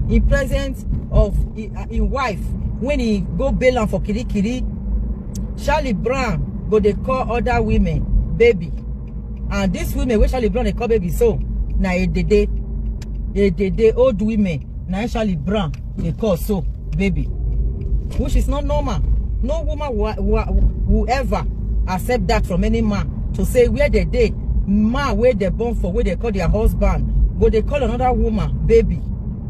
in presence of im im wife when he go bail am for kirikiri charlie brown go dey call other women baby and dis women wey charlie brown dey call baby so na edede edede old women na im charlie brown dey call so baby which is not normal no woman will, will, will ever accept that from any man to say where they dey man wey dem born for wey dem call their husband go dey call another woman baby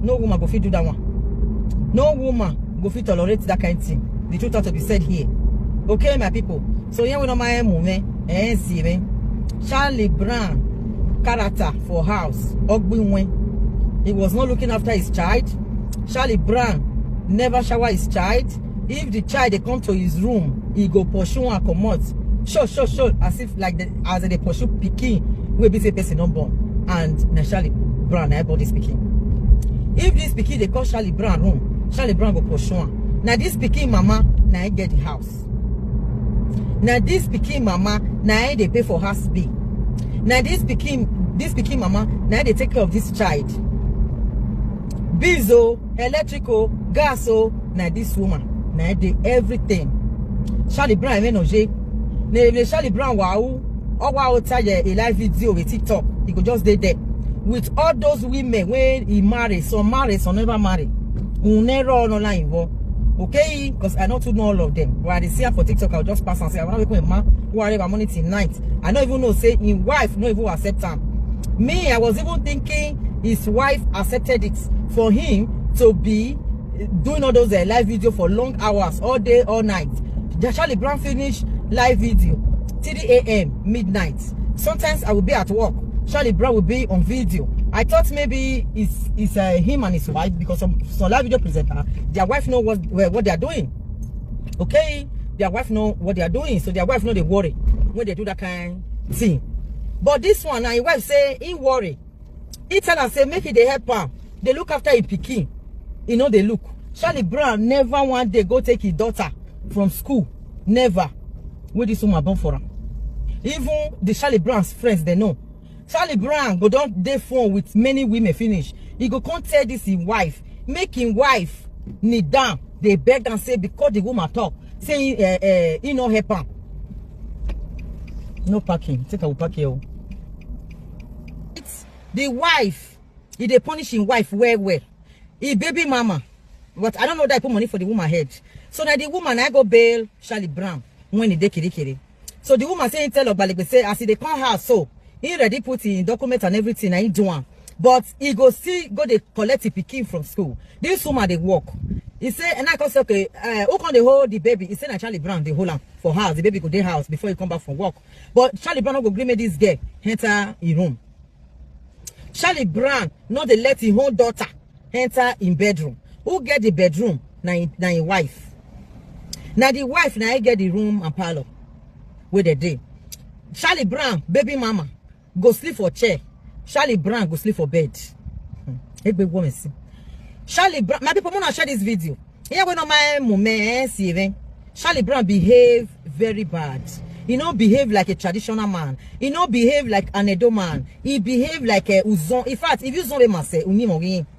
no woman go fit do that one no woman go fit tolerate that kind thing the truth has to be said here okay my people so here we know my emu me eh see me charlie brown character for house ogbinwe he was not looking after his child charlie brown never shower his child if the child dey come to his room he go pursue am comot sure sure sure as like the, as they pursue pikin wey be say person don born and na charlie brown na born this pikin if this pikin dey call charlie brown home charlie brown go pursue am na this pikin mama na im get the house na this pikin mama na im dey pay for house bill na this pikin this pikin mama na im dey take care of this child bills o. Oh, electric o gas o na this woman na im dey everything charlie brown emenoje na ebe charlie brown wawu ọwa outa ye a live video with tiktok e go just dey there with all those women wey e marry some marry some never marry unero ọlọla involve okay because i no too know all of them but i dey see am for tiktok i go just pass am say i wan wake my ma who are my money till night i no even know say im wife no even accept am me i was even thinking his wife accepted it for him to be eh, doing all those uh, live video for long hours all day all night charlie brown finish live video 3 a.m midnight sometimes i will be at work charlie brown will be on video i thought maybe it's it's uh, him and his wife because some some live video presenter their wife know what what they are doing okay their wife know what they are doing so their wife know they worry when they do that kind thing but this one na him wife say he worry He tell am say make he dey help am, dey look after him pikin. He no dey look. Charlie Brown never one day go take his daughter from school. Never. Wey this woman born for am. Even the Charlie Brown's friends, they know. Charlie Brown go don dey phone with many women finish. He go come tell this him wife, make him wife kneel down, dey beg am say because the woman talk, say eh, eh, he no help am. No parking. Take I will park here. oh. the wife he dey punish him wife well well he baby mama but i don't know that he put money for the woman head so na the woman na go bail charlie brown when he dey kirikiri so the woman say him tell ogbalegbe say as he dey come house so he ready put him document and everything na him do am but he go still go dey collect him pikin from school this woman dey work he say and i come say okay uh, who come dey hold the baby he say na charlie brown dey hold am for house the baby go dey house before he come back from work but charlie brown no go gree make dis girl enter im room charlie brown no dey let im own daughter enter im bedroom who get di bedroom na im wife na di wife na im get di room and parlour wey dey dey charlie brown baby mama go sleep for chair charlie brown go sleep for bed hmm. egbe woman see charlie brown my people wanna share this video yeah when on my moment eh, see even charlie brown behave very bad he no behave like a traditional man he no behave like an edo man he behave like a uzon in fact if you zon be mase unimo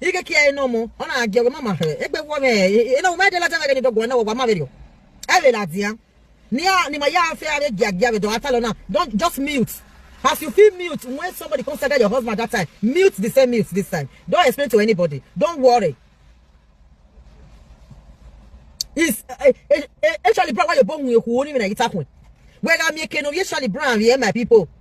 ike kia eno mo ona aje we mama he egbe wo me eno me de la tanga ni dogo na wo ma verio ele la dia ni a ni ma ya fe are gia gia be do atalo na don't just mute as you feel mute when somebody come stagger your husband that time mute the same mute this time don't explain to anybody don't worry is actually bro why you born with who only na itakun whether me kenu actually brown here my people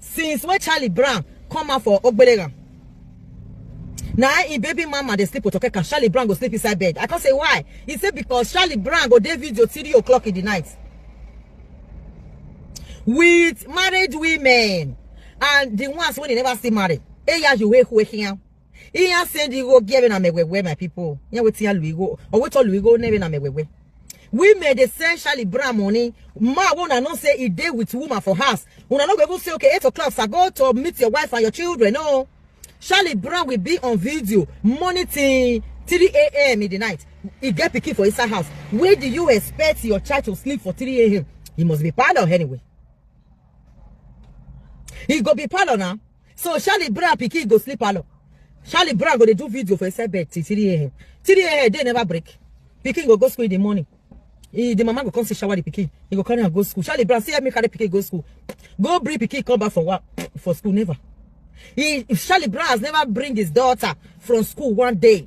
since wey charlie brown come out for ogbeleram na im baby mama dey sleep with okeka charlie brown go sleep inside bed i come say why he say because charlie brown go dey video three o'clock in the night with married women and the ones wey dey never still marry eyayo wey wey hiam ihe ya sị dị igo gị ebe na megwegwe my people ya wetin ya lu igo o wetu lu igo n'ebe na megwegwe women dey send shali bra money ma wey una know say e dey with woman for house una no go even say okay eight o'clock sir go to meet your wife and your children no shali bra will be on video morning till three a.m. in the night e get pikin for inside house where do you expect your child to sleep for three a.m. he must be parlour anyway he go be parlour na so charlie brown pikin go sleep alone charlie brown go dey do video for inside bed till three a.m. three a.m. day never break pikin go go school in the morning he, the mama go come see shower the pikin he go carry am go school charlie brown see help me carry pikin go school go bring pikin come back for work for school never he charlie brown has never bring his daughter from school one day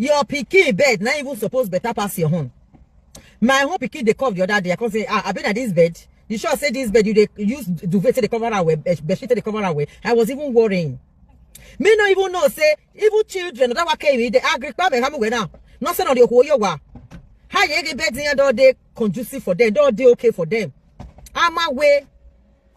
your pikin bed na even suppose better pass your own my own pikin dey cough the other day i come say ah abi na this bed you sure say this bed you dey use duvet take dey cover am well bedsheet take dey cover am well i was even worrying me no even know say even children that were came they agree pa me hamu now nothing on the okuoyo wa how you get bed in your door dey conducive for them door dey okay for them i'm away